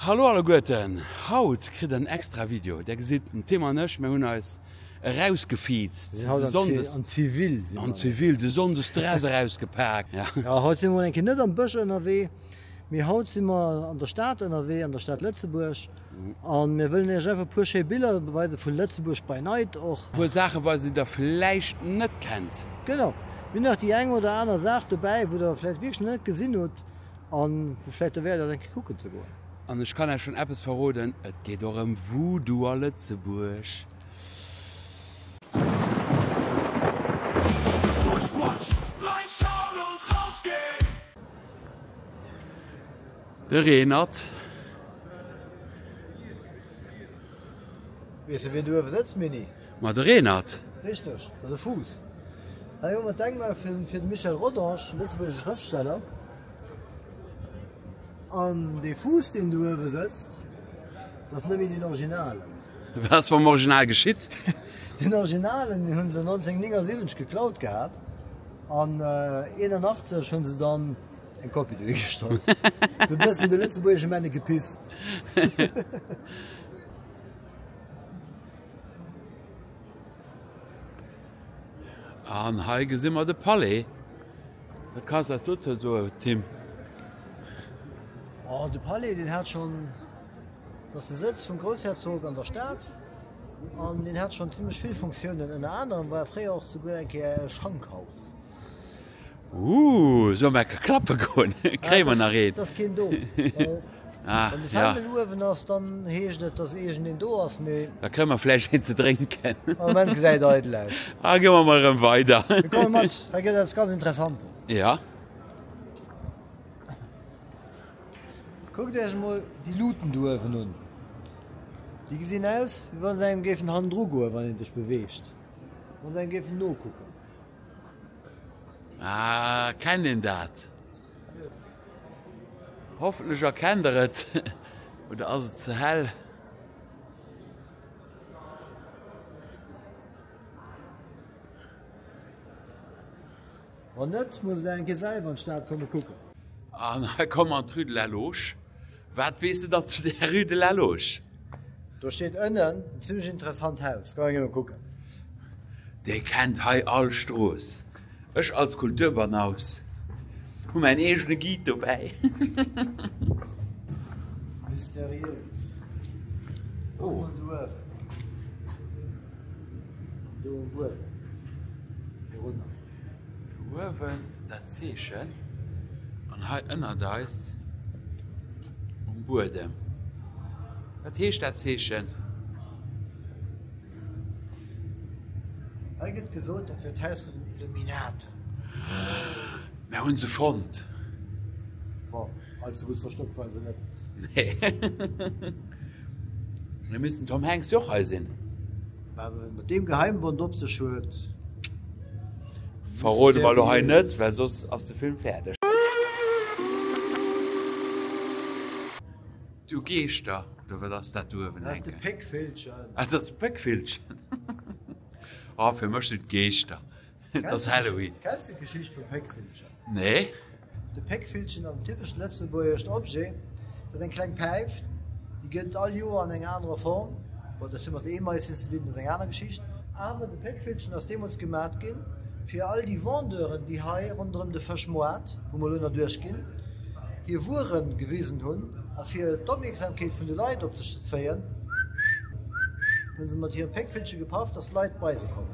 Hallo alleguerten! Haut kritt der en extra Video. Där gesitt, den Tim an ech, mir hunn eis erausgefiizt de Sonndes. An zivil sinn mer. An zivil de Sonndes d'Dress erausgepak. Jo, haut sinn mer mol eng Kéier net am Bësch ënnerwee, mee haut sinn mer an der Stad ënnerwee, an der Stad Lëtzebuerg. A mir wëllen iech einfach e puer schéi Biller weise vu Lëtzebuerg by night och. E puer Saache weisen, déi der vläicht net kennt. Genau, mir hunn nach déi eng oder aner Saach dobäi, wou der vläicht wierklech nach net gesinn hutt. A vläit derwäert et eng Kéier kucken ze goen. An ech kann Äech schonn eppes verroden, et geet och ëm Voodoo a Lëtzebuerg. De Reenert. Weess de wien do uewe sëtzt, Mini? Ma de Renert? Richteg, dat ass e Fuuss. Hei hu mer d'Denkmal fir de Michel Rodange, lëtzebuergesche Schrëftsteller. An dee Fuuss, deen do uewe sëtzt, dat ass net méi deen Originalen. Wat ass mam Original geschitt? Deen Originalen, deen hu se 1979 geklaut gehat an 81 hu se dann eng Kopie dohi gestallt. Esou e bëssen de lëtzebuergesche Männekepiss. An hei gesinn mer de Palais. Wat kanns eis dozou soen, Tim? Oh, de Palais den hat schon dass de Sëtz vum Groussherzog an der Stad an den hat schon zimmlech vill Funktiounen. Ënner anerem war e fréier och souguer eng Kéier e Schankhaus. Ooh, soll mer ecke klappe goen? Kréie mer nach een? Ass keen do. Ah, Wann de ja. Fändel uewen ass, dann heescht et, dass iergend een do ass, mee. Da kréie mer vläicht een ze drénken. Am Moment gesäit eidel aus. Ah, goe mer mol erëm weider. Mir komme mat, hei gëtt eppes ganz Interessantes. Ja. Kuckt Iech emol déi Luuten do uewen un. Déi gesinn aus, wéi wa se engem géifen hannendru goen, wann ee sech beweegt. Wa se engem géifen nokucken. Ah, kennt een dat? Hoffentlech erkennt der et. Oder ass et ze hell? Wann net, muss et een Kéier selwer an d'Stad komme kucken. An hei kommen an d'Rue de la Loge. Wat weess de dann zu der Rue de la Loge? Do steet ënnen en zimmlech interessant Haus. Goung ech elo kucken. Dir kennt hei all Strooss. Ech als Kulturbanaus hu mäin eegene Guide dobäi. Mysteriös. Oh. Kuck mol do uewen. Do um Buedem. Dorunner. Uewen dat Zeechen an hei ënnert eis um Buedem. Wat heescht dat Zeechen? Hei gëtt gesot, dat wier d'Haus vun den Illuminaten. Mir hu se fonnt. Bon. Hei so gudd verstoppt war se net. Nee. Mir missten Tom Hanks joch hei sinn. Mat deem Geheimbond op sech huet. Verrode mer lo hei net, well soss ass de Film fäerdeg. Du Geeschter, oder wat ass dat do uewen hänken? Dat ass de Péckvillchen. Ah, dat ass de Péckvillchen. Oh, fir mech sinn d'Geeschter. Et ass Halloween. Kenns de d'Geschicht vum Péckvillchen? Nee. De Péckvillchen ass en typescht lëtzebuergescht Objet. Dat ass eng kleng Päif, déi gëtt all Joer an enger anerer Form. Bon, datt hu mat de Eemaisien ze dinn, dat ass eng aner Geschicht. Awer de Péckvillchen ass deemools gemat ginn, fir all déi Vendeuren, déi hei ronderëm de Fëschmoart, wou mer elo nach duerchginn, hir Wuere gewisen hunn a fir d'Opmierksamkeet vun de Leit op sech ze zéien, hunn se mat hirem Péckvillche gepaff, datt d'Leit bei se kommen.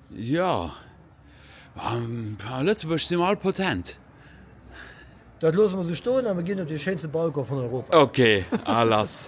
Jo, a Lëtzebuerg si mer all potent. Dat loosse mer esou stoen a mer ginn op dee schéinste Balcon vun Europa. Ok, a lass.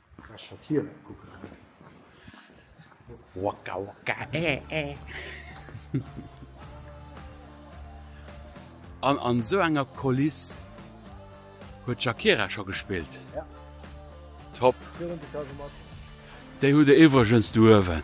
An an esou enger Koliss huet d'Shakira scho gespillt. Top! Déi hutt Der iwwregens do uewen.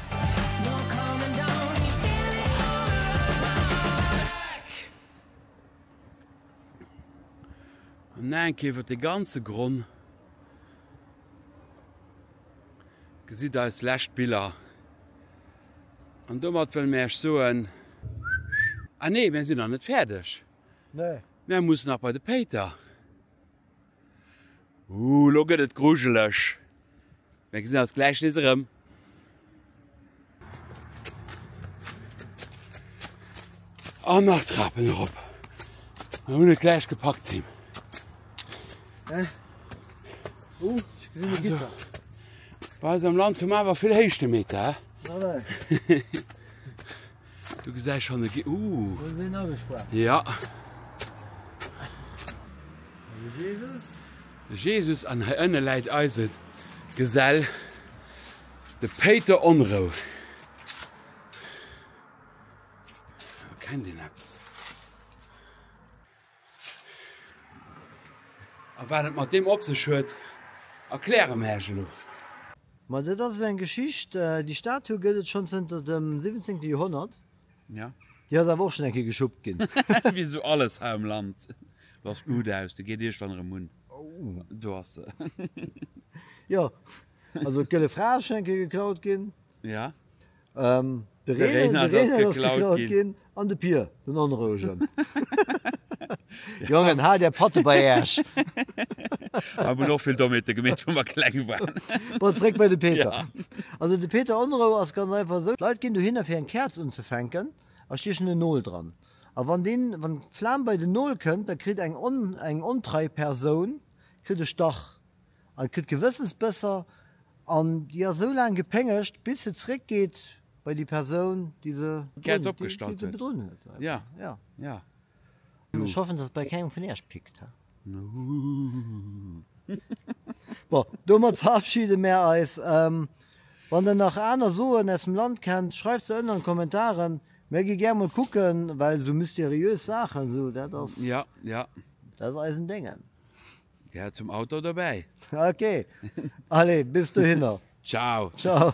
An Naenk iwwert de ganze Gronn gesitt eis lescht Biller. An domat wëlle mär iech soen, Ah nee, mär sinn nach net fäerdeg! Mär mussen nach bei de Péiter! Ooh lo gëtt et grujeleg. Mir gesinn eis gläich nees erëm. An nach Trapen erop. Mir hunn et gläich gepackt Tim. Hä? Ooh, ech gesinn e Gitter. Bei eis am Land hu mer awer vill Héichtemeter. Nawell. Du gesäis schon e Ooh. Wou sinn agesprach? Ja. De Jesus. De Jesus an hei ënne läit eise Gesell, de Péiter Onrou. Erkennt een eppes? A wat et mat deem op sech huet, erkläre mer iech elo. Ma dat ass eng Geschicht, déi Statue gëtt et schonn zënter dem 17. Joerhonnert. Jo. Déi ass awer och schonn eng Kéier geschuppt ginn. Wéi esou alles hei am Land laasst d'Moude aus, déi geet iergendwann erëm un. Do ass se. Jo, also d'Gëlle Fra ass schonn eng Kéier geklaut ginn. Jo. De Reenert ass geklaut ginn. An de Pier, den Onrouegen. Jongen, haalt är Patte bei Äerch! Mer hunn och vill Dommheete gemeet, wou mer kleng waren. Bon, zréck bei de Peter. Ja. Also, de Peter, Onrou ass ganz einfach esou, d'Leit ginn dohinner, fir eng Käerz unzefänken, a stiechen en Nol dran. A wann deen, wann d'Flam bei den Nol kënnt, da kritt eng ontrei Persoun kritt e Stach. an et gëtt Gewëssensbësser an déi ass esou laang gepéngegt, bis se zréck geet bei déi Persoun, déi se bedrunn huet. Ech hoffen, dass et bei kengem vun Iech pickt. Bon, domat verabschide mär eis. Wann Der nach aner Soen aus dem Land kennt, schreift se ënner an d'Kommentaren. Mär gi gär mol kucken, well esou mysteriös Saachen, esou, dat ass eisen Déngen. Gehäert zum Auto dobäi. Ok, allez, bis dohinner. Ciao. Ciao.